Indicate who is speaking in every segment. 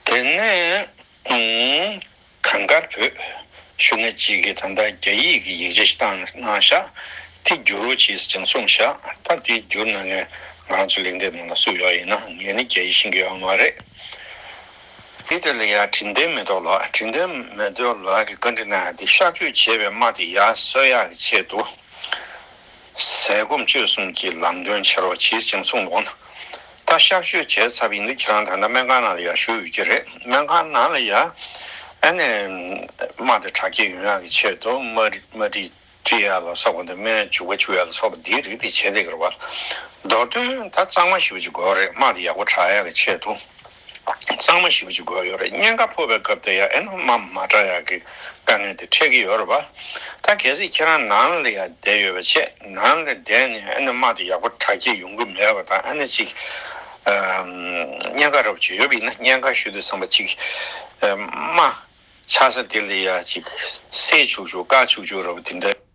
Speaker 1: དེ་ནས་གངས་དཀར་བོད་གཞུང་གནས་གཅིག་གི་ད་ལྟ་རྒྱ་ཡིག་གི་ཡིག་ཆ་ཞིག་བཏང་ན་གནང་ཤག་དེ་བསྒྱུར་རོ་ཅིས་ཀྱང་གསུངས་ཤག་ད་དེ་བསྒྱུར་ན་ནི་ང་རང་ཚོ་ལེགས་འདེབས་གནང་ན་སུ་ཡོག་ཡིན་ན་ངས་ནི་རྒྱ་ཡིག་ཤེས་ཀྱི་ཡོག་མ་རེད། དེ་དེ་ལ་ཡ་དྲིན་ལྡན་མེ་ཏོག་ལགས་དྲིན་ལྡན་མེ་ཏོག་ལགས་ཀྱི་བཀའ་འདྲི་གནང་ཡག་དེ་གཤག་བཅོས་བྱས་པའི་དམག་དེ་ཡ་གསོད་ཡག་གི་ཆེད་དུ། ཟས་སྐོམ་སྤྱོད་གསུམ་གྱི་ལམ་སྟོན་བྱེད་རོགས་གྱིས་སྦྱིན་གསུངས་ལོ། ད་གཤག་བཅོས་བྱས་ཚར་བ་ཡིན་དུས་ཁྱེད་རང་ད་ལྟ་སྨན་ཁང་ནང་ལ་ཡར་བཞུགས་ཡོད་ཀྱི་རེད་སྨན་ཁང་ནང་ལ་ཡར། ཨ་ནེ། མ་དེ་དྲག་སྐྱེད་ཡོང་ཡག་གི་ཆེད་དུ་མ། མ་དེ་སྐྱེ་ཡག་ལ་སོགས་པ་འདི་སྨན་བྱུག་པ་བྱུག་ཡག་ལ་སོགས་པ་འདིའི་རིགས་དེ་བྱས་འདེགས་རེད་བ། མདོར་དོན་ད་གཙང་མ་ཞིག་བྱེད་དགོས་རེད་མ་དེ་ཡག་པོ་དྲག་ཡག་གི་ཆེད་དུ། གཙང་མ་ཞིག་བྱེད་དགོས་ཡོད་རེད་བརྙན་ཁ་ཕོག་པའི་སྐབས་དེ་ཡང་ཨེ་ནོ་མ་མ་བྲག་ཡག་གི་དཀའ་ངལ་དེ་འཕྲད་ཀྱི་ཡོད་རེད་བ། ད་གལ་སྲིད་ཁྱེད་རང་ནང་ལ་ཡང་བསྡད་ཡོད་པ་ཆད་ནང་ལ་བསྡད་ནས་ཨེ་ནོ་མ་དེ་ཡག་པོ་དྲག་སྐྱེད་ཡོང་གི་མེད་པ་དང་ཨེ་ནོ་ཅིག་བརྙན་ཁ་ར་བ་ཅིག་ཡོད་པ་ཡིན་ན་བརྙན་ཁ་ཞུ་དུས་ཚང་མ་ཅིག་མ་ཆགས་ས་དེ་ལ་ཡང་ཅིག་བསད་བཅུག་བཅུག་བཀག་བཅུག་བཅུག་ར་བ་དེ་འདྲ།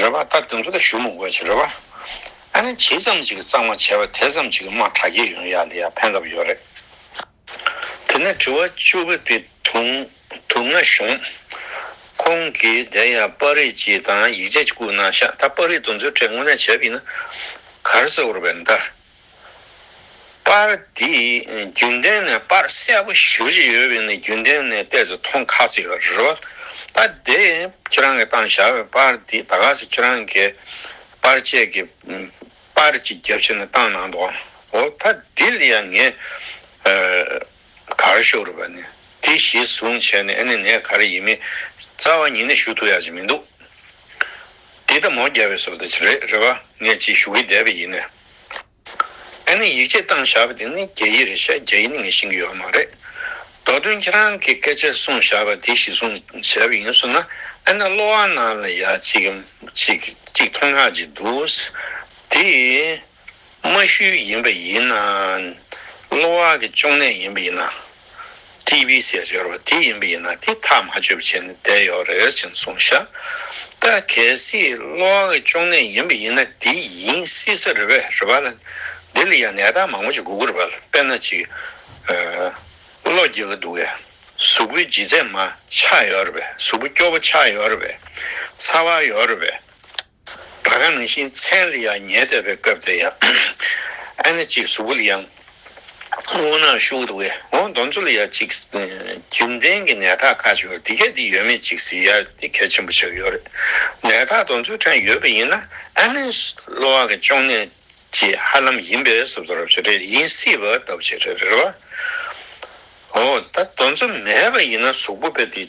Speaker 1: རེ་བ་ད་དུང་དེ་ལ་ཞུམ་དགོས་ཀྱི་རེད་བ། ཨ་ནི་ཇི་ཙམ་ཅིག་གཙང་མ་བྱས་པ་དེ་ཙམ་ཅིག་དམག་གྲ་རྒྱས་ཡོང་ཡག་འདི་ཡག་ཕན་གབ་ཡོད་རེད། དེ་ནས་དྲི་བ་བཅུ་བོ་དེ་དུང་དུང་ང་ཞུང། ཁོང་གིས་དེ་ཡང་པར་རིས་ཀྱི་དང་ཡིག་ཆ་ཀྱི་སྐུ་ན་ཤ་ད་པར་རིས་དུང་ཚོའི་གྲས་དངོས་གནས་བྱས་པ་ཡིན་ན་གར་སེ་བོར་བའི་མདའ། པར་འདི་རྒྱུན་ལྡན་ནས་པར་གསལ་པོ་ཞིབ་གཞི་ཡོད་པའི་ནི་རྒྱུན་ལྡན་ནས་བལྟས་ཚེ་མཐོང་ཁག་ཅིག་རེད་བ། ད་དེ་ཁྱེད་རང་གི་བཏང་བཞག་པའི་པར་འདི་ད་ག་ཟེ་ཁྱེད་རང་གི་པར་བཅས་ཀྱི་པར་གྱི་རྒྱབ་ཕྱི་ནས་བཏང་གནང་འདུག་འོ་ད་འདི་ལ་ཡང་ངས། གར་ཤོར་བ་ནི་དེ་གཞི་བཟུང་བྱས་ནས་ཨེ་ནི་ནས་གར་ཡིན་མི་རྩ་བ་ཉིད་ནས་ཞུ་ཐུབ་ཡག་ཅིག་མི་འདུག་འདི་ད་མོ་རྒྱལ་བའི་སོ་ད་ཅིག་རེད་རེད་བ་ངས་ཅིག་ཞུ་གི་བསྡད་པ་ཡིན། ཨེ་ནི་ཡིག་ཆས་བཏང་བཞག་པ་དེ་ནི་རྒྱ་ཡིག་རེད་བཤད་རྒྱ་ཡིག་ནི་ངས་ཤེས་ཀྱི་ཡོད་མ་རེད་མདོ་དོན་ཁྱེད་རང་གི་སྐད་ཆ་གསུངས་བཞག་པ་དེ་གཞི་བཟུང་བྱས་པ་ཡིན་བསོད་ན་ཨེ་ནི་གློ་བ་ནང་ལ་ཡག་ཅིག་གམ་ཅིག་ཅིག་མཐོང་ཡག་ཅིག་འདུག་དེ། རྨ་ཤུལ་ཡིན་པ་ཡིན་ན། གློ་བ་གི་གཅོང་ནད་ཡིན་པ་ཡིན་ན། ཏི་བི་ཟས་སྦྱོར་བ་དེ་ཡིན་པ་ཡིན་ན་དེ་ཐག་མ་ཆོད་པ་བྱས་ནས་བསྡད་ཡོད་རེད་ཟེར་གྱིན་སོང་ཤག་ད་གལ་སྲིད་གློ་བ་གི་གཅོང་ནད་ཡིན་པ་ཡིན་ན་དེ་ཡིན་སྲིད་ས་རེད་བས་རེད་བ་ལ་འདི་ལ་ཡང་ནད་རྟགས་མང་པོ་ཅིག་འགོ་གུ་རེད་བ་ལ་དཔེར་ན་ཅིག་གློ་རྒྱས་ཀྱི་འདུག་བས་གཟུགས་པོའི་ལྗིད་ཚད་མ་ཆག་ཡོད་རེད་བས་གཟུགས་པོ་སྐྱོ་བོ་ཆག་ཡོད་རེད་བས་ཚ་བ་ཡོད་རེད་བས། ད་ག་ནང་བཞིན་མཚན་ལ་ཡང་ཉལ་བསྡད་པའི་སྐབས་དེ་ཡང་ཨ་ནེ་གཅིག་གཟུགས་པོ་ལ་ཡང་སྔོ་ནག་ཤུགས་ལ་བས་འོང་མདོ་མཚོ་ལ་ཡང་གཅིག་རྒྱུན་ལྡན་གྱི་ནད་རྟགས་ཁ་ཤོར་འདི་ག་འདི་ཡོད་མེད་ཅིག་གཟིགས་ཡ་འདི་གལ་ཆེན་པོ་ཆགས་ཡོད་རེད་ནད་རྟགས་མདོ་མཚོའི་ཕྲན་ཡོད་པ་ཡིན་ན་ཨ་ནེ་གློ་བ་གི་གཅོང་ནད་ཀྱི་ཧ་ལམ་ཡིན་པས་གཟུགས་མདོ་རབས་ཆེ་གྲས་ཡིན་སྲིད་པ་ལྟ་བུ་ཆེ་གྲས་རེད་རེད་བ། འོ་ད་མདོ་མཚོ་མེད་པ་ཡིན་ན་གཟུགས་པོ་དཔེ་དེ་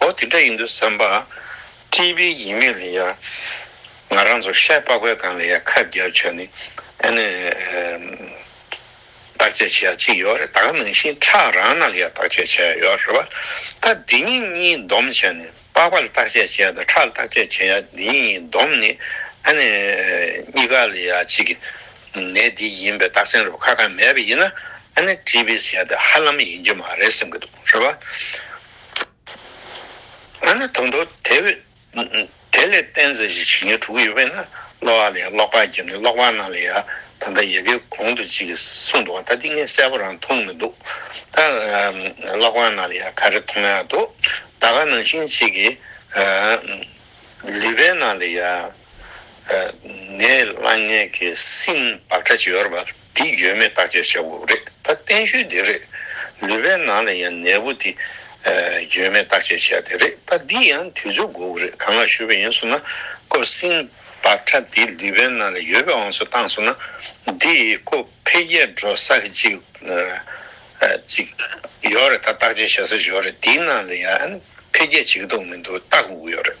Speaker 1: ཨོ་དེ་འདྲ་ཡིན་འདུག་བསམ་པ། སྤྲིས་པའི་ཡིད་མེད་ལ་ཡར། ང་རང་ཚོ་ཤ་པགས་པའི་སྒང་ལ་ཡར་ཁ་བརྒྱབ་ཆོག་ནི། ཨ་ནི། བརྟག་དཔྱད་བྱེད་ཡག་གཅིག་ཡོད་རེད་ད་ག་ནང་བཞིན་ཁྲག་རང་ནང་གི་ཡར་བརྟག་དཔྱད་བྱེད་ཡག་ཡོད་རེད་བ། ད་འདི་གཉིས་གཉིས་སྡོམ་བྱས་ནི་པགས་པ་ལ་བརྟག་དཔྱད་བྱེད་ཡག་དང་ཁྲག་ལ་བརྟག་དཔྱད་བྱེད་ཡག་འདི་གཉིས་གཉིས་སྡོམ་ནི། ཨ་ནི། གཉིས་ཀ་ལ་ཡར་གཅིག་གི། ནད་འདི་ཡིན་པའི་རྟགས་མཚན་རུ་ཁག་ཁག་མེད་པ་ཡིན་ན། ཨ་ནི་སྤྲིས་པའི་ཟས་དེ་ཧ་ལམ་ཡིན་རྒྱུ་མ་རེད་བསམ་གྱི་འདུག། ཞེས་པ། ང་ནི་དང་པོ་དེ་བས། དེ་ལས་བསྟན་ཟིན་ཞིག་བྱིན་གྱིས་དྲུག་ཡོད་པས་ན་སློ་བ་ལ་ཡང་ཀློག་པར་བགྱི་ནི་ཀློག་པ་རྣམས་ལ་ཡང་ད་ལྟ་ཡི་གེ་གོང་དུ་ཅིག་གསུངས་འདུག་བ་ད་ཏིང་ངེ་གསལ་པོ་རང་མཐོང་མི་འདུག་ད་ཀློག་པ་རྣམས་ལ་ཡང་ག་རེ་མཐོང་ཡང་འདུག་ད་ག་ནང་བཞིན་ཅིག་གིས། ལུས་པའི་ནང་ལ་ཡང། ནད་བསླང་ནད་ཀྱི་སྲིན་བག་ཕྲ་ཅིག་ཡོད་རབ། འདི་ཡོད་མེད་བརྟག་དཔྱད་བྱ་དགོས་རེད་ད་བསྟན་ཤུལ་འདི་རེད། ལུས་པའི་ནང་ལ་ཡང་ནད་འབུ་དེ་ཡོད་མེད་བརྟག་དཔྱད་བྱས་དེ་རེད་ད་འདི་ཡང་དུས་ཚོད་དགོས་ཀྱི་རེད་གང་ལ་ཞུ་བ་ཡིན་སོང་ན་ཀོ་བསིན་བག་ཁྲ་དེ་ལུས་པའི་ནང་ལ་ཡོད་པའང་སུ་བཏང་སོང་ན་འདི་ཀོ་འཕེལ་རྒྱས་འགྲོ་ས་གཅིག་གཅིག་ཡོད་རེད་ད་བརྟག་དཔྱད་བྱ་ས་ཞོར་རེད་འདི་ནང་ལ་ཡང་འཕེལ་རྒྱས་བྱེད་ཀྱི་འདུག་མི་འདུག་བརྟག་དགོས་ཀྱི་ཡོད་རེད།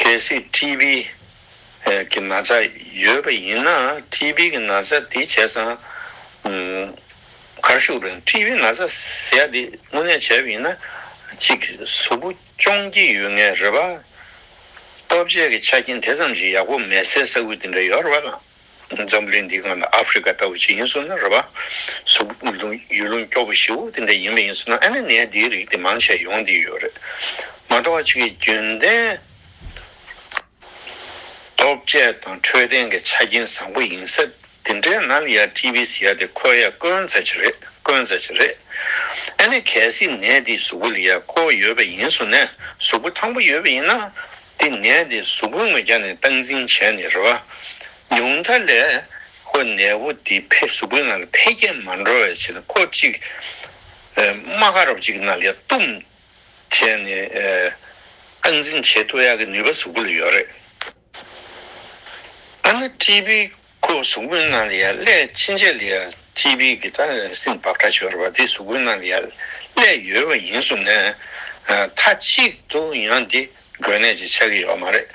Speaker 1: གལ་སྲིད་ཀྲི་བི་གི་ན་ཚ་ཡོད་པ་ཡིན་ན་ཀྲི་བི་གི་ན་ཚ་དེ་བྱས་ཙང་གར་ཞུགས་པ་ཡིན་ཀྲི་བི་ན་ཚ་ཟས་དེ་དངོས་གནས་བྱས་པ་ཡིན་ན་གཅིག་གཟུགས་པོ་གཅོང་སྐྱི་ཡོད་ངེས་རེད་པ། སྟོབས་ཆེ་གི་ཆ་རྐྱེན་དེ་ཙམ་ཞིག་ཡག་པོ་མེད་སའི་ས་ཁུལ་དེ་འདྲ་ཡོད་རེད་པ་དང། འཛམ་གླིང་འདིའི་སྔ་ན་ཨ་ཧྥེ་རི་ཁ་ལྟ་བུ་ཞིག་ཡིན་སོང་ན་རེད་བཟོ་ལུང་ཡུལ་ལུང་སྐྱོ་པོ་ཞིག་འོ་དེ་འདྲ་ཡིན་མ་ཡིན་སོང་ན་ཨ་ནེ་ནའི་འདིའི་རིགས་དེ་མང་ཆེ་ཡོང་དེ་ཡོད་རེད་མ་གཏོགས་ཨ་ཕྱི་གི་རྒྱུན་ལྡན་སྟོབས་རྒྱལ་དང་འཕྲོད་བསྟེན་གི་ཆ་རྐྱེན་བཟང་པོ་ཡིན་ས་དེ་འདྲའི་ནང་ལ་ཡ་ཏི་བི་སི་ཡ་དེ་ཁོ་ཡ་དཀོན་ཚ་ཆེ་རེད་དཀོན་ཚ་ཆེ་རེད་ཨ་ནེ་གལ་སྲིད་ནད་འདིས་གཟུགས་པོ་ལ་ཡ་ཁོ་ཡོད་པ་ཡིན་སོང་ན་གཟུགས་པོ་ཐང་པོ་ཡོད་པ་ཡིན་ན། དེ་ནད་དེ་གཟུགས་པོའི་ངོས་ཀྱང་ནས་སྟངས་འཛིན་བྱས་ནས་རེ་བ་ཉུང་མཐའ་ལས་ཁོ་ནད་བུ་དེ་ཕས་གཟུགས་པོའི་ནང་ལ་འཕེལ་རྒྱས་མ་འགྲོ་བའི་ཆེད་དུ་ཁོ་གཅིག་རྨ་ཁ་རོག་ཅིག་གི་ནང་ལས་བཏུམ་བྱས་ནས་སྟངས་འཛིན་བྱེད་ཐུབ་ཡག་གི་ནུས་པ་གཟུགས་པོ་ལ་ཡོད་རེད། ཨ་ན་ཀྲི་པི་ཁོ་བོ་གཟུགས་སྐུའི་སྣང་ལས་སླད་ཕྱིན་ཆད་ལས་སྤྱི་བོའི་དགེ་རྩ་ལས་སེམས་བག་ཕྲ་ཤོར་བ་དེ་གཟུགས་སྐུའི་སྣང་ལས་སླད་ཡོད་པ་ཡིན་གསུངས་ནས། མཐའ་གཅིག་ཏུ་ཡང་འདི་དགོས་གནད་ཅིག་ཆགས་ཀྱི་ཡོད་མ་རེད།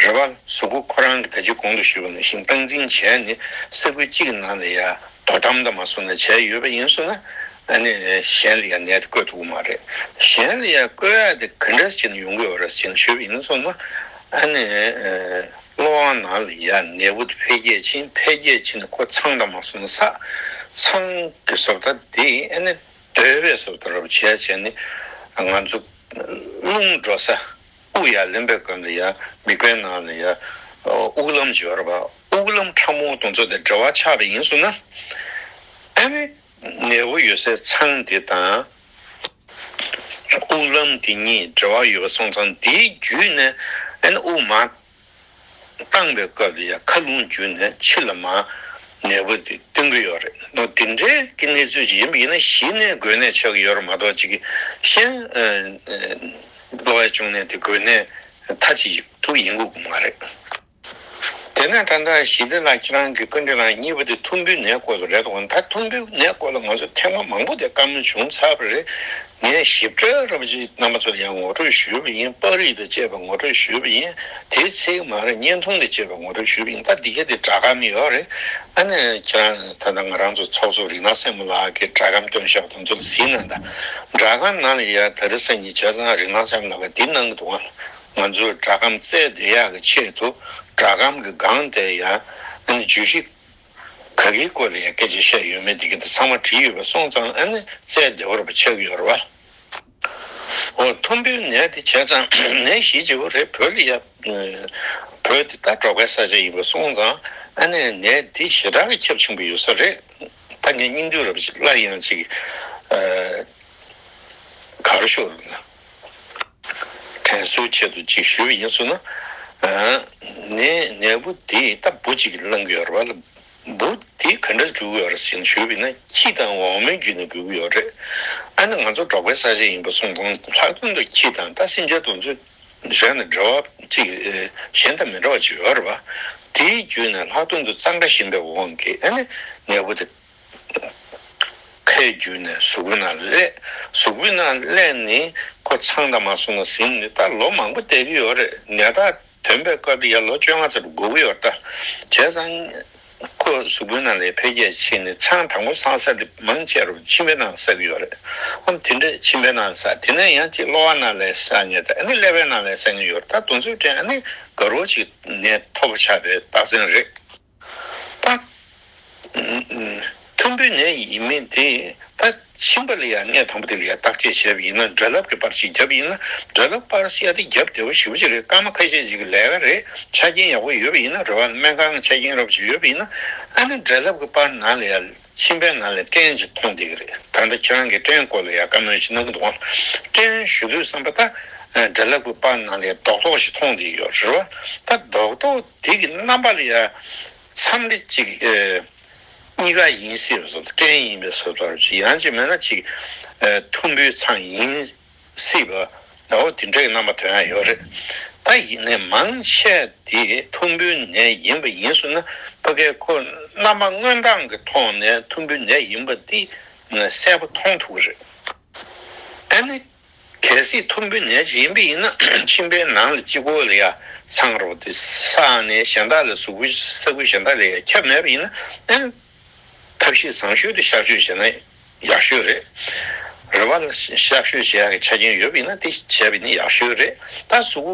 Speaker 1: རེ་བ་གཟུགས་སྐུ་ཁོ་རང་གི་ད་ཅི་གོང་དུ་ཞུས་པ་ནང་བཞིན་སྟངས་འཛིན་བྱས་ནས་ས་ཁུལ་གཅིག་གི་ནང་ལས་ཡ་དོ་དམ་དང་མ་སོང་ན་བྱས་ཡོད་པ་ཡིན་གསུངས་ན། ཨ་ནི་གཞན་ལས་ཡ་ནད་དེ་བཀོད་འདུག་མ་རེད། གཞན་ལས་ཡ་བཀོད་ཡ་དེ་ག་འདྲ་ཞིག་ཡིན་ན་ཡོང་གི་ཡོད་རེད་ཅེས་ཞུས་པ་ཡིན་གསུངས་ན། ཨ་ནི། བློ་དབང་ནང་ལ་ཡ་ནེ་བོད་དུ་འཕེལ་རྒྱས་ཕྱིན་འཕེལ་རྒྱས་ཕྱིན་ནས་ཁོ་ཚང་དང་མ་སོང་ན་ས་ཚང་གི་བཟོ་ལྟ་དེ་ཨེ་ནི་སྡོད་པའི་བཟོ་ལྟ་རོ་བྱས་བྱས་ནས་ང་ཚོ་རླུང་འགྲོ་ས་དབུགས་ཡར་ལེན་པའི་སྐབས་ལ་ཡ་མི་དགོས་ནང་ལ་ཡ་དབུགས་ལམ་སྦྱོར་བ་དབུགས་ལམ་ཕྲ་མོ་དང་ཚོ་དེ་འབྲེལ་བ་ཆགས་པ་ཡིན་བཟོ་ན་ཨེ་ནི། ནད་འབུ་ཡོད་སའི་ཚང་དེ་དང། དབུགས་ལམ་དེ་གཉིས་འབྲེལ་བ་ཡོད་པ་སོང་ཙང་དེའི་བརྒྱུད་ནས་དབུགས་མ་བཏང་བའི་སྐབས་ལ་ཡང་ཁ་རླུང་བརྒྱུད་ནས་ཕྱི་ལ་མ་ནད་འབུ་དེ་སྟོན་གྱི་ཡོད་རེད་འདུག་དེ་འདྲའི་ཀྱི་གནས་ཚུལ་ཞིག་ཡིན་པ་ཡིན་ན་གཞི་ནས་འགོས་ནད་ཆགས་ཀྱི་ཡོད་རེད་མ་གཏོགས་གཅིག་གཞན་གློ་བའི་གཅོང་ནད་དེ་འགོས་ནད་མཐའ་གཅིག་ཏུ་ཡིན་དགོས་ཀྱི་མ་རེད། དེ་ནས་ད་ལྟ་ཞི་བདེ་ལགས་ཁྱེད་རང་གི་སྐུ་འདྲེ་ལགས་གཉིས་པོ་དེ་ཐུམ་འབུའི་ནད་བཀོལ་བ་རེད་དོ་ད་ཐུམ་འབུའི་ནད་བཀོལ་ལ་ང་ཚོ་ཐེངས་མ་མང་པོ་དེ་བཀའ་མོལ་བྱུང་ཚར་བ་རེད་ངས་ཞིབ་ཕྲའི་ར་པ་ཅིག་རྣམ་པ་ཚོ་ལ་ཡང་ངོ་སྤྲོད་ཞུས་པ་ཡིན་པར་རིགས་པས་དཔྱད་པ་ངོ་སྤྲོད་ཞུས་པ་ཡིན་དེའི་ཚིག་མ་རེད་བརྙན་ཐུང་ལས་དཔྱད་པ་ངོ་སྤྲོད་ཞུས་པ་ཡིན་ད་འདི་ག་དེ་དྲ་གམ་ཡོད་རེད་ཨ་ནས་ཁྱེད་རང་ད་ལྟ་ང་རང་ཚོ་ཚོགས་གཙོ་རིག་སྣང་སེར་མོ་ལགས་ཀྱི་དྲ་གམ་སྟོན་ཞབས་དང་ཚོ་ལ་གཟིགས་ན་ད་དྲ་གམ་ནང་ལ་ཡ་ད་རི་སངས་ཀྱི་བྱས་ཙང་རིག་སྣང་སེར་མོ་ལགས་ཀྱི་འདི་གནང་གི་འདུག་ཨང། ང་ཚོས་སྒྲ་སྒམ་བཙལ་བདེ་ཡག་གི་ཆེད་དུ་སྒྲ་སྒམ་གྱི་སྒང་དེ་ཡང་ཨ་ནི་བརྗོད་གཞི་ག་གིའི་སྐོར་ལ་ཡང་སྐད་ཆ་བཤད་ཡོད་མེད་དེ་ག་དེ་ཚང་མ་བྲིས་ཡོད་པ་སོང་ཙང་ཨ་ནི་བཙལ་བདེ་བོར་བ་ཆགས་ཀྱི་ཡོད་རེད་བ། འོ་ཐུམ་འབུའི་ནད་དེ་བྱས་ཙང་ནད་གཞི་ལྗི་བོ་རེད་བོད་ལ་ཡ་བོད་འདི་ལྟ་གྲོགས་པའི་ས་ཆ་ཡིན་པ་སོང་ཙང་ཨ་ནི་ནད་འདི་ཞེ་དྲག་གི་ཁྱབ་ཆེན་པོ་ཡོད་ས་རེད་ད་ངས་སྙིང་དུས་རབ་ཅིག་སླར་ཡང་ཅིག་ག་རུ་ཤོར། དྲན་གསོའི་ཆེད་དུ་ཅིག་ཞུ་བ་ཡིན་ཚུལ་ན། ནས་ནས་བུ་དེས་རྟ་སྦུ་ཅིག་བླངས་ཀྱི་ཡོད་རེད་བ། སྦུ་དེ་ག་འདྲར་གྱུར་གྱི་ཡོད་རེད་ཟེར་ཞུས་པས་ན་ཁྱི་དང་འོག་མིན་རྒྱུད་ནས་གྱུར་གྱི་ཡོད་རེད། ཨ་ནི་ང་ཚོ་འབྲོག་པའི་ས་ཆ་ཡིན་པ་གསུངས་དང་ལྷག་དོན་དུ་ཁྱི་དང་རྟ་སེམས་ཅན་དུ་འཛིན་གཞན་དང་འབྲེལ་བ་ཅིག་གཞན་དང་མི་འདྲ་བ་ཅིག་ཡོད་རེད་བ། དེའི་རྒྱུད་ནས་ལྷག་དོན་དུ་གཙང་སྦྲ་ཞན་པའི་དབང་གིས་ཨ་ནི་ནས་བུ་དེ། ཁའི་རྒྱུད་ནས་གཟུགས་པོ་ན་བསླད། གཟུགས་པོ་ན་བསླད་ནི་ཁོ་ཚང་དང་མ་སོང་ན་ཟིན་ནི་ད་ལོ་མང་པོ་བསྡད་ཀྱི་ཡོད་རེད་ནད་རྟགས་དོན་པའི་སྐབས་ཡར་ལོ་བཅོ་ལྔ་ཚར་དགོས་ཀྱི་ཡོད་ད་བྱས་ཙང་ཁོ་གཟུགས་པོ་ན་ལས་འཕེལ་རྒྱས་ཕྱིན་ནི་ཚང་དང་པོ་སང་ས་དེ་མང་ཆེ་རུ་མཆིན་པའི་ནང་ཟག་གི་ཡོད་རེད་ཨང་དེ་འདྲས་མཆིན་པའི་ནང་ཟག་དེ་ནས་ཡང་གཅིག་གློ་བ་ན་ལས་ཟག་ངེས་ད་ནི་ཀླད་པའི་ནང་ལས་ཟག་ངེས་ཡོད་རེད་ད་དུང་ཚུལ་དྲན་ཨ་ནི་དགའ་རོགས་ཅིག་ནད་ཐོབ་པོ་ཆགས་པའི་རྟགས་མཚན་རེད། པ། མཐོན་པོའི་ནད་ཡིན་མིན་དེ་ད་ཕྱིན་པ་ལ་ཡང་ནད་དང་པོ་དེ་ལ་ཡང་བརྟག་དཔྱད་བྱས་པ་ཡིན་ན་དགྲ་བླ་གི་པར་ཞིག་བརྒྱབ་ཡིན་ན་དགྲ་བླ་པར་བཤད་དེ་བརྒྱབ་བདེ་བ་ཞིབ་ཅིག་རེད་སྐར་མ་ཁ་ཤས་ཤིག་གི་ལས་ཀ་རེད་ཆ་རྐྱེན་ཡག་པོ་ཡོད་པ་ཡིན་ན་རེ་བ་སྨན་ཁང་གི་ཆ་རྐྱེན་རབ་བྱུང་ཡོད་པ་ཡིན་ན་ཨ་ནི་དགྲ་བླ་གི་པར་ནང་ལ་ཡང་ཕྱིན་པའི་ནང་ལ་སྐྲན་གྱི་མཐོང་བསྡད་གི་རེད་ད་ལྟ་ཁྱེད་རང་གིས་སྐྲན་སྐོར་ལ་ཡང་བཀའ་མོལ་ཞིག་གནང་གི་འདུག་ཨང་སྐྲན་ཞུ་དུས་བསམ་པ་ད་དགྲ་བླ་གི་པར་ནང་ལ་ཡང་རྡོག་རྡོག་ཞིག་མཐོང་བསྡད་ཡོད་རེད་རེ་བ་ད་རྡོག་རྡོག། དེ་གི་རྣམ་པ་ལ་ཡང་མཚམས་རེ་གཅིག་གཉིས་ཀ་ཡིན་སྲིད་པ་སོགས་སྐྲན་ཡིན་པའི་སོ་ཐར་གཅིག་ཡང་གཅིག་མེད་ན་གཅིག་ཐུམ་འབུའི་ཚང་ཡིན་སྲིད་པ་འོ་དེ་འདྲ་གི་རྣམ་པ་དོན་ཡང་ཡོད་རེད་ད་ཡིག་ནད་མང་ཆེ་དེ་ཐུམ་འབུའི་ནད་ཡིན་པ་ཡིན་སྲིད་ན་ཕ་གའི་ཁོ་རྣམ་པ་སྔོན་སྟངས་ཀི་ཐོག་ནས་ཐུམ་འབུའི་ནད་ཡིན་པ་དེ་གསལ་པོ་མཐོང་ཐུབ་གི་རེད། ཨ་ནི། གལ་སྲིད་ཐུམ་འབུའི་ནད་ཅིག་ཡིན་པས་ཡིན་ན་མཆིན་པའི་ནང་ལ་སྤྱི་བོ་ལ་ཡ་མཚང་རོ་སྟེ་ས་ནས་གཞན་དག་ལ་ཟུག་པོ་ས་ཁུལ་གཞན་དག་ལས་ཡ་ཁྱབ་མེད་པ་ཡིན་ན་ཐབས་ཤེས་བཟང་ཤོས་དེ་གཤག་བཅོས་བྱས་ན་ཡག་ཤོས་རེད། རུས་པ་ལ་གཤག་བཅོས་བྱེད་ཡག་གི་ཆ་རྐྱེན་ཡོད་པས་ཡིན་ན་དེ་བྱས་པས་ནི་ཡག་ཤོས་རེད་ད་ཟུག་པོ་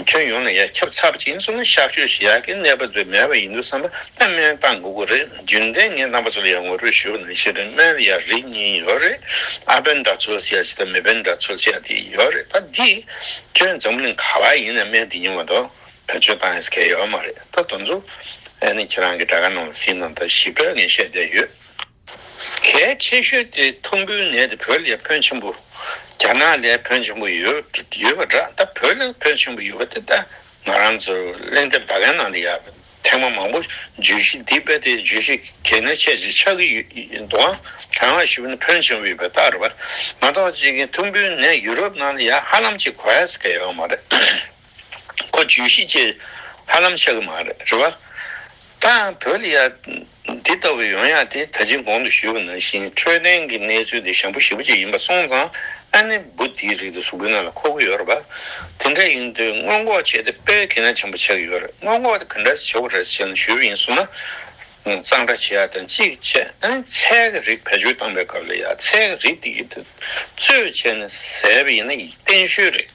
Speaker 1: ཁྱོན་ཡོངས་ནས་ཡང་ཁྱབ་ཚར་གཅིག་མཚོན་ན་གཤག་བཅོས་བྱེད་ཡག་གི་གནས་བབ་དེ་མེད་པ་ཡིན་འདུག་བསམ་པ་ད་སྨན་གཏང་དགོས་གི་རེད་རྒྱུན་ལྡན་ངས་རྣམ་པ་ཚོ་ལ་ཡང་ངོ་སྤྲོད་ཞུས་པ་ནང་བཞིན་རེད་སྨན་ཡང་རིགས་གཉིས་ཡོད་རེད་ཨ་སྦན་འདྲ་ཚོལ་བྱེད་ཅིག་དང་མི་སྦན་འདྲ་ཚོལ་བྱེད་ཅིག་ཡོད་རེད་ད་འདི་ཁྱོད་འཛམ་གླིང་ག་བ་ཡིན་ནས་སྨན་འདི་ཉོ་མ་གཏོགས་བེད་སྤྱོད་གཏང་ཡས་གལ་ཡོད་མ་རེད་ད་དོན་ཚོ་ཨ་ནི་ཁྱེད་རང་གི་དྲ་ཁ་ནང་ལ་ཟིན་ནང་ད་ཞིབ་ཕྲ་ངས་བཤད་བསྡད་ཡོད། གལ་ཆེ་ཤོས་དེ་ཐུམ་འབུའི་ནད་དེ་བོད་ལས་ཕོན་ཆེན་པོ། རྒྱ་ནག་ལས་ཕོན་ཆེན་པོ་ཡོད་པ་འདྲ་ད་བོད་ལས་ཕོན་ཆེན་པོ་ཡོད་པ་དེ་ད་ང་རང་ཚོ་གླེང་དེབ་ཟླ་གའི་ནང་དུ་ཡག་ཐེངས་མ་མང་པོ་བརྗོད་གཞི་འདི་དཔེ་དེ་བརྗོད་གཞི་གལ་ནི་ཆེ་ཆེ་ཆགས་ཀྱི་ཡོད་འདུག་ཨང་དྲན་ལགས་ཞུ་བ་ནི་ཕོན་ཆེན་པོ་ཡོད་པའི་རྟགས་རེད་པ་མ་གཏོགས་ཅིག་ཐུམ་འབུའི་ནད་ཡུ་རོབ་ནང་ལ་ཡང་ཧ་ལམ་ཅིག་གོ་ཡ་ཟེར་ག་ཡོད་མ་རེད། ཁོ་བརྗོད་གཞི་བཅས་ཧ་ལམ་ཆགས་ཀྱི་མ་རེད་བ། ད་ཡང་བོད་ལ་ཡ། འདི་ལྟ་བུའི་ཡོང་ཡག་དེ་ད་ཅིའི་དགོངས་དུ་ཞུས་པ་ནང་བཞིན་འཕྲོད་བསྟེན་གྱི་གནས་ཚུལ་དེ་ཞང་པོ་ཞེ་པོ་གཅིག་ཡིན་པ་སོང་ཙང་ཨ་ནེ་འབུ་དེའི་རིགས་དེ་གཟུགས་པོའི་ནང་ལ་འཁོར་གྱི་ཡོད་རེད་བ། དེ་འདྲ་ཡིན་དུས་སྔོན་འགོག་བྱས་ཏེ་སྤེལ་གྱིན་ན་བྱམས་པོ་ཆགས་ཀྱི་ཡོད་རེད་སྔོན་འགོག་དེ་ག་འདྲ་བྱེད་དགོས་རེད་ཟེར་ན་ཞུས་པ་ཡིན་གསུངས་ན། གཙང་སྦྲ་བྱེད་ཡག་དང་གཅིག་བཅས་ཨ་ནེ་ཚལ་གྱི་རིགས་བེད་སྤྱོད་བཏང་པའི་སྐབས་ལ་ཡ་ཚལ་གྱི་རིགས་དེ་གི་དུས་ཚོད་བྱས་ནས་ཟས་པ་ཡིན་ན་གཏན་ཤོས་རེད།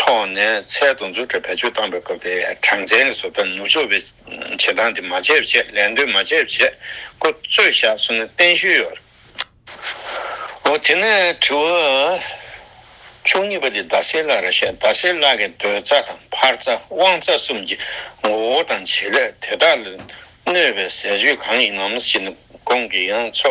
Speaker 1: ཐོག་ནས་ཚད་དང་མཛུབ་ཁྲིད་བེད་སྤྱོད་བཏང་པའི་སྐབས་དེའི་གྲངས་ཚད་ནི་བཟོ་ལྟ་ནུབ་ཕྱོགས་པའི་བྱེད་སྟངས་དེ་མ་སྤྱད་ཆེད་ལན་ལྡོན་མ་བྱས་པའི་བྱེད་སྒོ་རྩོད་བཞག་སོང་ནས་བརྟན་བཞུགས་ཡོད་རེད། འོ་དེ་ནས་དྲི་བ་བཅུ་གཉིས་པ་དེ་རྡ་སའི་བླ་ར་ཞེས་རྡ་སའི་བླ་གའི་འདོད་རྩ་དང་འཕར་རྩ་དབང་རྩ་གསུམ་གྱི་ངོ་བོ་དང་བྱེད་ལས་དེ་དག་ལ་གནོད་པའི་ཟས་སྤྱོད་གང་ཡིན་ནམ་ཞེས་ནི་གོང་གི་ཡང་ཚོ་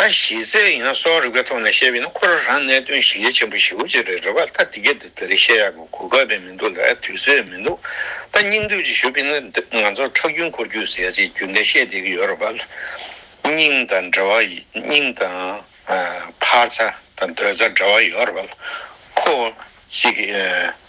Speaker 1: ད་གཞི་རྩའི་ཡིན་ན་སོགས་རིག་པའི་ཐོག་ནས་བཤད་པས་ན་ཁོ་རང་རང་གནད་དོན་གཞི་ལས་ཆེན་པོ་ཞིག་ཅེས་རེད་རེད་བ་ད་དེ་སྐད་དེ་རིགས་བཤད་ཡག་གི་གོ་སྐབས་ལས་མི་འདུག་ལ་དུས་ཚོད་མི་འདུག་ད་སྙིང་བསྡུས་ཅིག་ཞུ་པས་ན་ང་ཚོར་ཁྲག་རྒྱུན་འཁོར་རྒྱུག་ཟེར་ཅིག་རྒྱུན་ལྡན་བཤད་བསྡད་ཀྱི་ཡོད་རེད་བ་སྙིང་དང་འབྲེལ་བ་སྙིང་དང་འཕར་རྩ་དང་སྡོད་རྩ་འབྲེལ་བ་ཡོད་རེད་བ་ཁོ་གཅིག་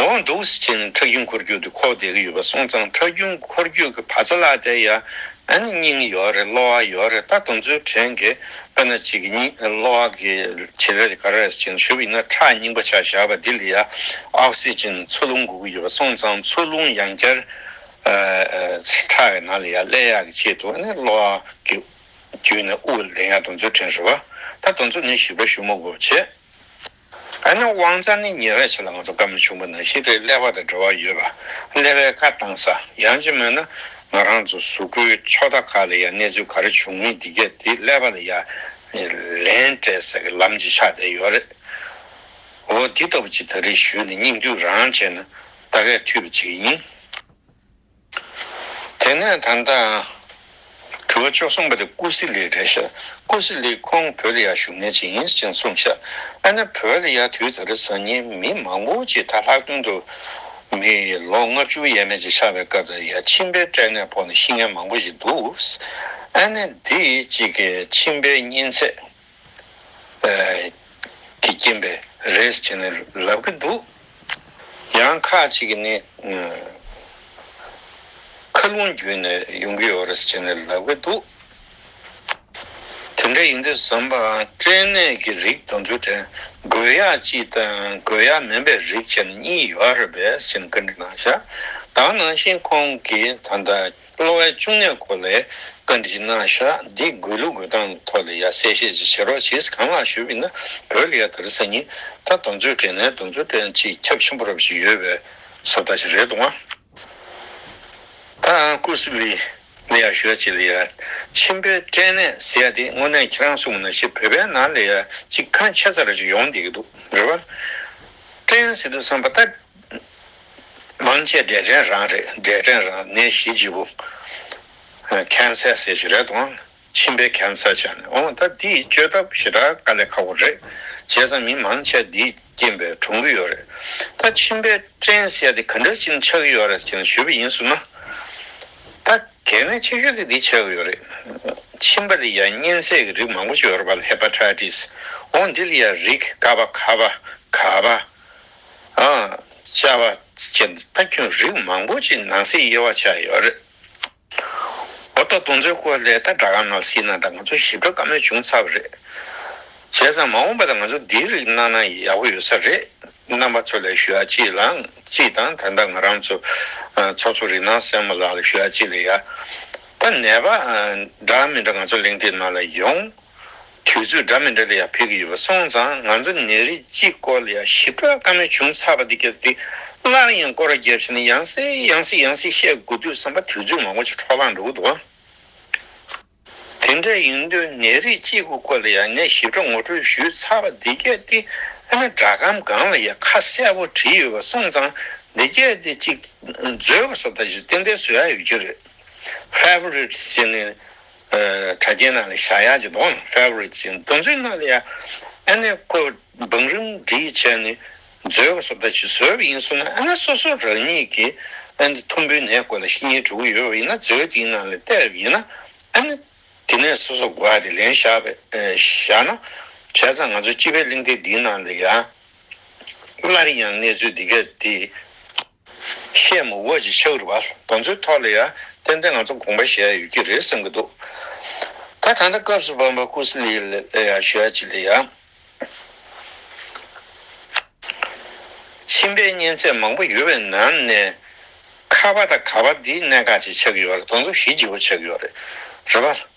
Speaker 1: འོང་འདུག་སི་ཆེན་ཁྲག་རྒྱུན་འཁོར་རྒྱུག་གི་ཁོག་བསྡད་ཀྱི་ཡོད་པ་སོང་ཙང་ཁྲག་རྒྱུན་འཁོར་རྒྱུག་གི་བ་ཚ་ལ་དེ་ཡ་ཨ་ནི་སྙིང་ཡོད་རེད་གློ་བ་ཡོད་རེད་ད་དུང་ཚོའི་དྲན་གི་པ་ན་ཅིག་གི་སྙིང་གློ་བ་གི་བྱེད་ལས་དེ་ག་རེད་སི་ཆེན་ཞུབ་ཡིན་ན་ཁྲག་རྙིང་པ་ཆག་བཞག་པ་དེ་ལ་ཡ་ཨོ་སི་ཆེན་མཚོ་རླུང་འགུག་གི་ཡོད་པ་སོང་ཙང་མཚོ་རླུང་ཡང་བསྐྱར་ཁྲག་གི་ནང་ལ་ཡ་སླེ་ཡག་གི་ཆེད་དུ་ཨ་ནི་གློ་བ་གི་རྒྱུད་ནས་དབུགས་ལེན་ཡ་དུང་ཚོའི་དྲན་ཧྲི་བ་ད་དུང་ཚོ་ནི་ཞིབ་ཕྲ་ཞུ་མོ་གོ་བྱེད། ཨ་ནི་དབང་རྩ་ནི་ཉེ་བའི་ཆ་ལ་ང་ཚོ་བཀའ་མོལ་ཆུང་པོ་ནང་བཞིན་རེད་ཀླད་པ་དང་འབྲེལ་བ་ཡོད་པ་ཀླད་པའི་བཀའ་བཏང་ས་ཡང་ཅི་སྨོས་ན་ང་རང་ཚོ་གཟུགས་སྐུའི་ཕྱོགས་མཐའ་ཁག་ལ་ཡང་གནས་ཚུལ་ག་རེ་བྱུང་མིན་འདི་སྐད་འདི་ཀླད་པ་ལ་ཡ་ལན་སྤྲད་ས་གི་ལམ་གྱི་ཆ་དེ་ཡོད་རེད་འོ་འདི་ལྟ་བུ་ཅིག་ད་རེས་ཞུས་ནས་སྙིང་བསྡུས་རང་བྱས་ན་ད་གས་འཐུས་པ་ཅིག་ཡིན། དེ་ནས་ད་ལྟའང་གྲུ་བ་བཅུ་གསུམ་པ་དེ་ཀུ་སི་ལི་རེད་ཤག་ཀུ་སི་ལི་ཁོང་བོད་ལ་ཡར་བཞུགས་ནས་ཇི་ཡིན་ཅིང་གསུངས་ཤག་ཨ་ན་བོད་ལ་ཡར་དུས་ད་རེས་བཟང་ངན་མི་མང་པོ་ཅིག་དར་ལྷག་དོན་དུ་མི་ལོ་ལྔ་བཅུ་ཡས་མས་ཅིག་ཆགས་པའི་སྐབས་དེར་ཡར་ཁྱིམ་པའི་སྐྲན་ནད་ཕོག་ནས་ཤི་ངན་མང་པོ་ཞིག་འདུག་ཨ་ན་འདི་གཅིག་གིས་ཁྱིམ་པའི་གཉན་ཚད། གི་རྐྱེན་པས་རེད་ཅེས་ནི་ལབ་ཀྱི་འདུག་ཡང་ཁག་ཅིག་གིས་ནི། མཁའ་རླུང་བརྒྱུད་ནས་ཡོང་གི་ཡོད་རེད་ཅེས་ནི་ལབ་ཀྱི་འདུག་དེ་འདྲ་ཡིན་དུས་ཟམ་པའང་སྐྲན་ནད་ཀྱི་རིགས་དང་འབྲུ་དྲན་འགོས་ཡག་ཅིག་དང་འགོས་ཡག་མིན་པའི་རིགས་ཅེས་ནི་གཉིས་ཡོད་རེད་པས་ཅེས་ནི་བཀའ་འདྲི་གནང་ཞག་གདང་གནང་བཞིན་ཁོང་གིས་ད་ལྟ། གློ་བའི་བཅུ་གནས་གོ་ལའི་བཀའ་འདྲི་ཅི་གནང་ཤག་འདི་དགོས་ལུགས་དགོས་སྟངས་ཐོག་ལ་ཡ་གསལ་བཤད་ཅིག་བྱེད་རོགས་བྱས་གང་ལགས་ཞུ་བས་ན་བོད་ལ་ཡ་ད་རི་ས་གཉིས་ད་རྡོ་མཛོད་དྲན་ནས་རྡོ་མཛོད་དྲན་ཅིག་ཁྱབ་ཆེན་པོ་རབ་ཞིག་ཡོད་པའི་སོབ་ད་ཅིག་རེད་འདུག་ད་ཀུ་སི་ལི་ལ་ཡ་ཞུ་ཡ་ཅིག་ལ་ཡ་ཆེན་པོའི་དྲན་ནས་ཟེར་ཡ་དེ་དངོས་གནས་ཁྱེད་རང་གསུངས་མ་ན་ཤེས་བོད་པའི་ནང་ལ་ཡ་ཅིག་ཁ་མཆེ་ཚ་ར་ཅིག་ཡོང་བསྡད་ཀྱི་འདུག་རེད་བ་དྲན་ཟེར་དུས་བསམ་པ་ད་སྨན་དཔྱད་འབྲས་སྐྲན་རང་རེད་འབྲས་སྐྲན་རང་ནད་གཞི་ལྗིད་པོ། Cancer ཟེར་གྱི་རེད་དང། མཆིན་པའི Cancer བྱས་ནས་འོང་ད་འདིས་བཅོས་ཐབས་ཞེ་དྲག་དཀའ་ལས་ཁག་པོ་རེད། བྱས་ཙང་མི་མང་ཆེ་འདིས་རྐྱེན་པས་གྲོངས་གི་ཡོད་རེད། ད་མཆིན་པའི་སྐྲན་བསལ་ཏེ་ག་འདྲ་ཞིག་ཆགས་ཀྱི་ཡོད་རེད་ཅེ་ན་ཞུས་པ་ཡིན་ཟུར་ན། ད་གལ་གནད་ཆེ་ཤོས་དེ་འདི་ཆགས་ཀྱི་ཡོད་རེད། མཆིན་པ་ལ་ཡང་གཉན་ཚད་ཀྱི་རིགས་མང་པོ་ཞིག་ཡོད་རེད་པ་ལ Hepatitis འོང་འདི་ལ་ཡང་རིགས་ཀ་པ་ཁ་པ་ག་པ་བྱ་བ་བྱེད་ན་ད་ཁྱོད་རིགས་མང་པོ་ཅིག་ནང་གསེས་དབྱེ་བ་ཆགས་ཡོད་རེད། འོ་ད་དུང་ཚོའི་སྐོར་ལས་ད་དྲ་ཁང་ནང་བསྲིས་ན་ད་ང་ཚོ་ཞིབ་ཕྲ་དཀའ་མོད་བྱུང་ཚར་བ་རེད། བྱས་ཙང་མ་འོངས་པ་ད་ང་ཚོ་འདིའི་རིགས་གནང་ན་ཡག་པོ་ཡོད་ས་རེད། རྣམ་པ་ཚོ་ལས་ཞུ་ཡག་ཅིག་ལང་ཅིག་དང་ད་ད་ང་རང་ཚོ་ཚོགས་གཙོ་རིགས་སྣང་སེར་མོ་ལགས་ལ་ཞུ་ཡག་ཅིག་ལ་ཡ། ད་ནད་པ་འདྲ་མི་འདྲ་ང་ཚོ་གླེང་སྟེགས་ནང་ལ་ཡོང། དུས་ཚོད་འདྲ་མི་འདྲ་དེ་ཡང་ཕེབས་ཀྱི་ཡོད་པ་སོང་ཙང་ང་ཚོ་ནད་རིགས་གཅིག་སྐོར་ལ་ཡང་ཞིབ་ཕྲ་བཀའ་མོལ་བྱུང་ཚར་བ་དེ་སྐབས་དེ་སླར་ཡང་སྐོར་བརྒྱབ་བྱས་ནས་ཡང་སེ་ཡང་སེ་ཡང་སེ་བཤད་དགོས་འདུག་བསམ་པ་དུས་ཚོད་མང་པོ་ཅིག་འཕྲོ་བརླག་འགྲོ་གི་འདུག་དེ་འདྲ་ཡིན་དུས་ནད་རིགས་གཅིག་པོ་སྐོར་ལ་ཡང་ངས་ཞིབ་ཕྲ་ངོ་སྤྲོད་ཞུས་ཚར་བ་དེ་སྐད་དེ་ཨ་ན་སྒྲ་སྒམ་སྒང་ལ་ཡང་ཁ་གསལ་པོ་བྲིས་ཡོད་པ་སོང་ཙང་འདི་སྐད་དེ་གཅིག་མཛོད་ཀ་སོབ་ད་ཞིག་ཏན་ཏན་བཟོས་ཡག་ཡོད་རྒྱུ་རེད Favourites བྱས་ནས་དྲ་རྒྱའི་ནང་ལ་བཞག་ཡག་ཅིག་འདུག Favorite ཅིག་འདུག་མདོར་ཚུལ་ནང་ལ་ཡང་ཨ་ནེ་ཀོ་བང་རིམ་བསྒྲིགས་བྱས་ནས་མཛོད་ཀ་སོབ་ད་ཅིག་བཟོས་པ་ཡིན་སོང་ན་ཨ་ན་སོ་སོ་རང་ཉིད་ཀྱི་ཨ་ནེ་ཐུམ་བུའི་ནས་ཀོ་ལ་ཤི་ཉེན་འགྲོ་གི་ཡོད་པ་ཡིན་ན་མཛོད་དེའི་ནང་ལ་བལྟས་རབས་ཡིན་ན་ཨ་ནེ་དེ་ནས་སོ་སོ་གོ་བ་དེ་ལེན་བཞག་པས་བཞག་ན་བྱས་ཙང་ང་ཚོ་སྤྱི་པའི་གླིང་སྟེགས་འདིའི་ནང་ལ་ཡང་སླར་ཡང་གནས་ཚུལ་འདི་ག་དེ། བཤད་མུ་འོ་ཅི་ཆགས་རུ་བ་དོ་ཚོའི་ཐོག་ལ་ཡང་ཏན་ཏན་ང་ཚོ་དགོངས་པ་བཞེས་ཡོད་ཀྱི་རེད་བསམ་གྱི་འདུག་ག་ད་ལྟ་སྐབས་སུ་བབ་པ་ཀུ་སི་ལི་ལ་ཡང་བཞོད་ཅིག་ལ་ཡང། ཁྱིམ་པའི་གཉེན་ཚད་མང་པོ་ཡོད་པའི་ནང་ནས། ཁ་བ་དང་ག་བ་འདིས་གནད་འགག་ཅིག་ཆགས་ཀྱི་ཡོད་རེད་དོ་ཚོ་ཞི་ལྗི་བོ་ཆགས་ཀྱི་ཡོད་རེད་བ།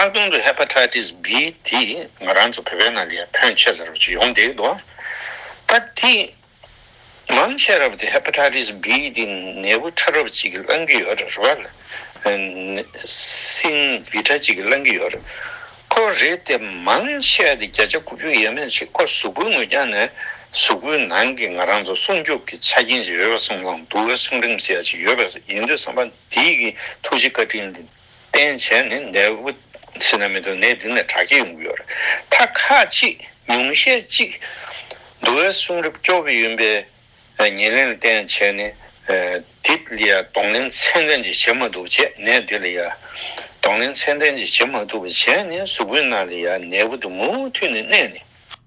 Speaker 1: ལྷག་དོན་དུ Hepatitis B དེས་ང་རང་ཚོ་བོད་པའི་ནང་ལས་ཕོན་ཆེ་ས་རབ་ཅིག་ཡོང་བསྡད་འདུག་ད་དེ་མང་ཆེ་རབ་དེ Hepatitis B དེ་ནད་འབུ་ཕྲ་རབ་ཅིག་གིས་བསླང་གི་ཡོད་རེད་རེད་བ་ལ་སིན་བི་ཕྲ་ཅིག་གིས་བསླང་གི་ཡོད་རེད་ཁོ་རེད་དེ་མང་ཆེ་དེ་བརྒྱ་ཆ་དགུ་བཅུ་ཡས་མས་ཆིག་ཁོ་གཟུགས་པོའི་ངོས་རྒྱང་ནས་གཟུགས་པོའི་ནང་གི་ང་རང་ཚོ་སྲུང་སྐྱོབ་ཀྱི་ཆ་རྐྱེན་ཅིག་ཡོད་པ་སྲུང་བསླང་འདུག་བས་སྲུང་རིམ་ཟེར་ཡ་ཅིག་ཡོད་པས་ཡིན་དུས་བསམ་པ་འདི་གི་ཐུགས་རྗེ་བཀའ་དྲིན་བསྟན་བྱས་ནི་ནད་འབུ་སྲིན་ན་མི་དུ་ནད་འདི་ནས་དྲག་སྐྱེད་ཡོང་གི་ཡོད་རེད་མཐའ་ཁ་ཅིག་ཉུང་ཤས་གཅིག་འདུ་བའི་གསུང་རབ་སྐྱོ་བོ་ཡིན་པས་ཉེ་ལན་བསྟན་བྱས་ནི་འདི་ལ་ཡང་གདོང་ལེན་ཚད་ལྡན་ཅིག་བྱེད་མ་ཐུབ་བྱས་ནད་འདི་ལ་ཡང་གདོང་ལེན་ཚད་ལྡན་ཅིག་བྱེད་མ་ཐུབ་བྱས་ནི་གཟུགས་པོའི་ནང་ལ་ཡང་ནད་འབུ་དུ་མུ་མཐུད་ནས་གནས་ནས།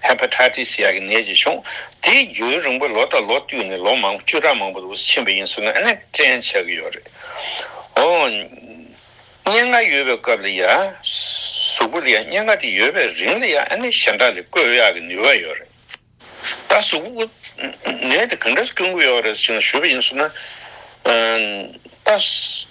Speaker 1: Hepatitis ཡག་གི་ནད་ཅིག་བྱུང། དེའི་རྒྱུན་རིང་པོ་ལོ་དང་ལོ་བསྟུད་ནས་ལོ་མང་པོ་བཅུ་ཕྲག་མང་པོ་རུ་ཕྱིན་པ་ཡིན་ཟེར་ན་ཨ་ནེ་དྲན་ཆགས་ཀྱི་ཡོད་རེད། འོ། སྙན་ངག་ཡོད་པའི་སྐབས་ལ་ཡ། གཟུགས་པོ་ལ་ཡ་སྙན་ངག་དེ་ཡོད་པའི་རིང་ལ་ཡ་ཨ་ནེ་ཞེ་འདྲ་ལས་བཀོད་ཡག་གི་ནུས་པ་ཡོད་རེད། ད་གཟུགས་པོ། ནད་དེ་གང་འདྲ་སྐྱོན་དགོས་ཡོད་རེད་ཟེར་ན་ཞུས་པ་ཡིན་ཟེར་ན། ད།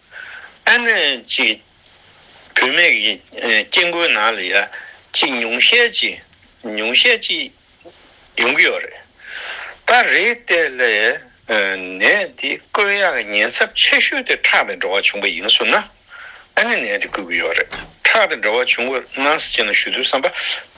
Speaker 1: ཨ་ནེ་གཅིག། བུད་མེད་ཀྱི་སྐྱེ་དགུའི་ནང་ལ་ཡ་གཅིག་ཉུང་ཤས་གཅིག་ཉུང་ཤས་གཅིག་ཡོང་གི་ཡོད་རེད། ད་རེས་ལྟས་ལ་ནད་འདི་བསྐུར་ཡག་ཉེན་ཚབས་ཆེ་ཤོས་དེ་ཁྲག་དང་འབྲེལ་བ་བྱུང་པ་ཡིན་གསུངས་ན་ཨ་ནེ་ནད་འདི་བསྐུར་གི་ཡོད་རེད། ཁྲག་དང་འབྲེལ་བ་བྱུང་བའི་སྣང་སེམས་ཅན་ལ་ཞུ་དུས་བསམ་པ།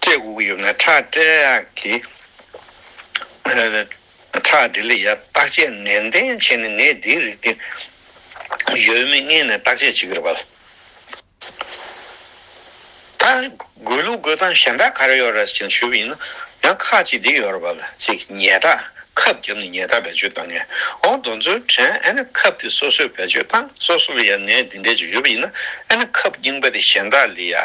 Speaker 1: སྐྲས་དགུག་ཡོད་ན་ཁྲག་སྐྲས་ཀྱི་ཁྲག་དེ་ལས་ཡ་བརྟག་དཔྱད་ནན་ཏན་བྱས་ནས་ནད་འདིའི་རིགས་དེ་ཡོད་མེད་མངལ་ནས་བརྟག་དཔྱད་བྱེད་ཀྱི་རེད་པཱ། ད་དགོས་ལུགས་དགོས་སྟངས་གཞན་དག་ག་རེ་ཡོད་རེད་ཅེས་ཞུས་པ་ཡིན་ན་ཡང་ཁ་ཅིག་འདི་ཡོད་རེད་པཱ་ཅེས་ཉལ་ཐག་ཁབ་བརྒྱབ་ནས་ཉལ་ཐག་བེད་སྤྱོད་བཏང་ངས་ཨོ་རྡོ་མཚོའི་དྲན་ཨེ་ན་ཁབ་དེ་སོ་སོས་བེད་སྤྱོད་བཏང་སོ་སོ་ལ་ཡང་ནད་འདི་འདྲ་ཅིག་ཡོད་པ་ཡིན་ན་ཨེ་ན་ཁབ་རྙིང་པ་དེ་གཞན་དག་ལས་ཡ།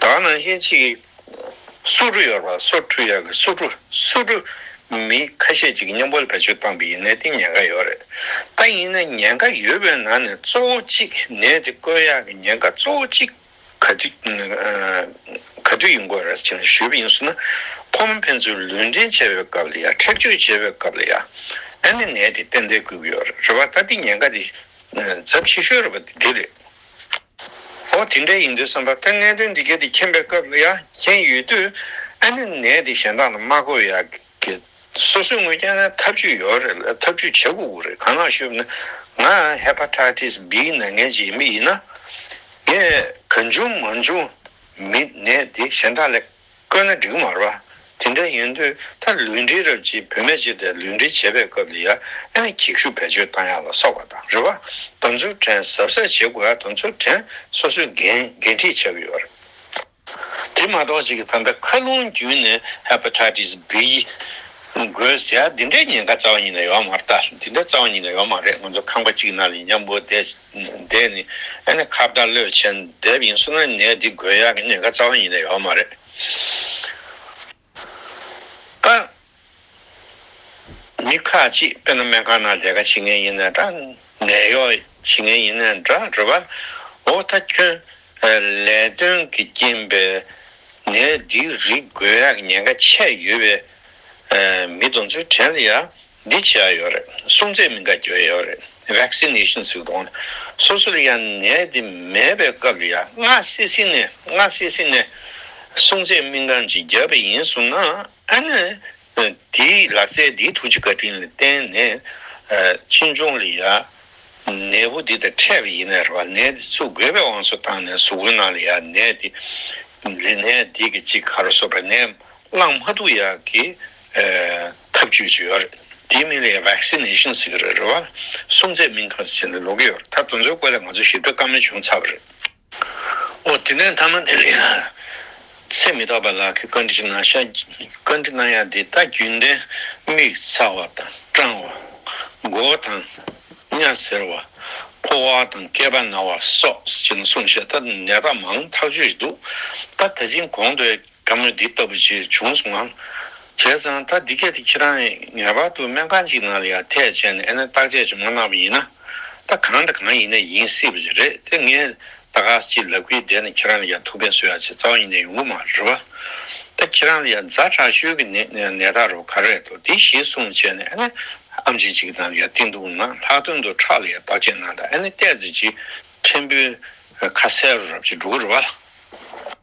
Speaker 1: དག་ནང་བཞིན་གཅིག། སོ་ཀྲུ་ཡོར་བ་སོ་ཀྲུ་ཡག་གི་སོ་ཀྲུ་སོ་ཀྲུ། མི་ཁ་ཤས་ཅིག་མཉམ་པོ་ལ་བེད་སྤྱོད་བཏང་པའི་ཡིན་ནའི་སྟེང་ཉེན་ཁ་ཡོད་རེད་ད་ཡིན་ན་ཉེན་ཁ་ཡོད་པའི་ནང་ནས་གཙོ་བོ་གཅིག་ནད་དེ་བཀོལ་ཡག་གི་ཉེན་ཁ་གཙོ་བོ་གཅིག་ག་དུས་ག་དུས་ཡིན་དགོས་རེད་ཅེས་ཞུས་པ་ཡིན་སོང་ན་ཁོ་མོ་ཕན་ཚུན་ལུས་འབྲེལ་བྱས་པའི་སྐབས་ལ་ཡ་མཁྲེགས་བཅོད་བྱས་པའི་སྐབས་ལ་ཡ་ཨ་ནི་ནད་དེ་གཏན་ཚལ་བཀོལ་གི་ཡོད་རེད་བ་ད་འདི་ཉེན་ཁ་དེ་ཚབས་ཆེ་ཤོས་རེད་བ་འདི་རེད། ཧོ་དེ་འདྲ་ཡིན་དུས་བསམ་པར་ཐལ་གནད་དོན་འདི་གལ་ཏེ་མཁྱེན་པའི་སྐབས་ཡ་མཁྱེན་ཡོད་དུས་ཨ་ནི་ནད་འདི་གཞན་དག་ལ་མ་འགོས་ཡ་གི། སོ་སོའི་ངོས་ཀྱང་ན་ཐབས་ཇུས་ཡོད་རེད་ལ་ཐབས་ཇུས་བྱེད་དགོས་ཀྱི་རེད་གང་ལགས་ཞུས་པ་ནི། ང Hepatitis B ནད་ངན་ཅིག་ཡིན་པ་ཡིན་ན། ངས་གང་བྱུང་མང་བྱུང་མིན་ནད་འདི་གཞན་དག་ལས་བཀོད་ན་འགྲིག་གི་མ་རེད་པ། དེ་འདྲ་ཡིན་དུས་ད་ལུས་འབྲེལ་རབས་ཀྱིས་བུད་མེད་ཅིག་དེ་ལུས་འབྲེལ་བྱེད་པའི་སྐབས་ལ་ཡར་ཨེ་གྱིས་ཤུགས་བེད་སྤྱོད་བཏང་ཡག་ལ་སོགས་པ་དང་རེད་པ། དམ་ཚུལ་དྲན་གཟབ་གཟབ་བྱེད་དགོས་ཡ་དམ་ཚུལ་དྲན་སོ་སོའི་འགན་འགན་འཁྲི་ཆགས་ཀྱི་ཡོད་རེད། དེ་མ་གཏོགས་ཅིག་ད་ལྟ་ཁ་རླུང་རྒྱུན་ནས Hepatitis B འགོས་ཟེར་ཡ་དེ་འདྲའི་ཉེན་ཁ་རྩ་བ་ཉིད་ནས་ཡོད་མ་རེད་ད་དེ་འདྲ་རྩ་བ་ཉིད་ནས་ཡོད་མ་རེད་ང་ཚོ་ཁང་པ་གཅིག་གི་ནང་ལ་ཡིན་ཀྱང་འབོ་བསྡད། འདས་ནི་ཨ་ནེ་ཁ་བརྡ་བློས་ཆེན་འདེབས་ཡིན་གསུང་ན་ནད་འདི་འགོས་ཡག་གི་ནད་ཁ་རྩ་བ་ཡིན་ན་ཡོད་མ་རེད་ཨ། མི་ཁ་ཅིག་དཔེར་ན་སྨན་ཁང་ནང་ལས་ཀ་བྱེད་མཁན་ཡིན་ན་འདྲ་ནད་གཡོག་བྱེད་མཁན་ཡིན་ན་འདྲ་རེད་བ་འོ་ད་ཁྱོད་ལས་དོན་གི་རྐྱེན་པས་ནད་འདི་རིགས་འགོས་ཡག་གི་ཉེན་ཁ་ཆད་ཡོད་བས་མི་གདོན་ཚུལ་དྲན་ལ་ཡ། འདི་བྱས་ཡོད་རེད་སྲུང་བཙན་མི་འགའ་བསྐྱོད་ཡོད་རེད Vaccination ཟིག་གཏོང་སོ་སོར་ཡང་ནད་འདི་མེད་པའི་སྐབས་ཡང་སྔ་སེ་སེ་ནས་སྔ་སེ་སེ་ནས་སྲུང་བཙན་སྨིན་ཁང་གཅིག་རྒྱབ་པ་ཡིན་གསུང་ན་ཨ་ནི་དེ་ལག་རྩལ་འདིའི་ཐུགས་རྗེ་བཀའ་དྲིན་ལ་བརྟེན་ནས་ཕྱི་འབྱུང་ལ་ཡང་ནད་འབུ་འདི་དང་འཕྲད་པ་ཡིན་ནས་རེད་བ་ནད་འདི་ཚུགས་དགོས་པའི་དབང་སོ་བཏང་ནས་ཟུག་གོན་ནང་ལ་ཡང་ནད་འདི་ལས་ནད་འདི་གི་གཅིག་ག་རུ་སོ་པ་ནས་བླངས་མ་ཐུག་ཡག་གི། ཐབས་བྱུས་ཀྱི་ཡོད་རེད་དེའི་མིང་ལས Vaccination ཟེར་གྱི་རེད་རེད་བ། སྲུང་བརྩད་མིང་གང་ཟེར་བྱས་ནས་ལོག་གི་ཡོད་རེད་ད་དུང་ཚོའི་སྐོར་ལས་ང་ཚོ་ཞིབ་ཕྲ་བཀའ་མོལ་བྱུང་ཚར་བ་རེད། ཨོ་དེ་ནས་མཐའ་མ་དེ་རིང་ཚེ་མི་རྟག་པ་ལགས་ཀྱི་བཀའ་འདྲི་ཞིག་གནང་ཤག་བཀའ་འདྲི་གནང་ཡག་འདི་ལྟ་རྒྱུན་ལྡན་མིག་ཚ་བ་དང་སྐྲང་བ། མགོ་བོ་དང། གཉའ་ཟེར་བ། ཕོ་བ་དང་སྐེད་པ་ན་བ་སོགས་ཀྱི་ནང་གསུངས་བཤད་ད་ནད་རྟགས་མང་ཐག་ཆོད་ཞིག་འདུག་ད་ད་ཕྱིན་གོང་དུ། བཀའ་མོལ་འདི་ལྟ་བུ་ཞིག་བྱུང་སོང་ངམ། བྱས་ཙང་ད་འདི་སྐད་དེ་ཁྱེད་རང་ངེས་པར་དུ་སྨན་ཁང་གཅིག་ནང་ལ་ཡར་ཐེག་བྱས་ནས་ཨེ་ནས་བརྟག་དཔྱད་ཅིག་མ་གནང་བ་ཡིན་ན། ད་གང་དང་གང་ཡིན་ནའི་ཡིན་སྲིད་པ་ཞིག་རེད་དེ་ངས་ད་ག་ས་ཅིག་ལབ་ཀི་བསྡད་ནས་ཁྱེད་རང་ལ་ཡར་ཐུག་ཕན་གསོས་ཡ་ཆེ་རྩ་བ་ཡིན་ནའི་ཡོང་གི་མ་རེད་བ། ད་ཁྱེད་རང་ལ་ཡར་མཛའ་དྲག་ཤོས་ཀྱི་ནད་ནས་ནད་ད་རོ་ག་རེ་རེད་དོ་དེ་གཞི་བཟུང་བྱས་ནས་ཨེ་ནས་ཨ་མཆིན་གཅིག་གི་ནང་ལ་ཡར་བསྟི་འདུག་ན་ལྷག་དོན་དུ་ཁྲག་ལ་ཡར་བརྟག་དཔྱད་གནང་དང་ཨེ་ནས་བལྟས་ཚེ་གཅིག་ཕྲན་བུའི་ཁ་ཟས་རོ་རབ་ཅིག་འགྲོ་གི་རེད་བ།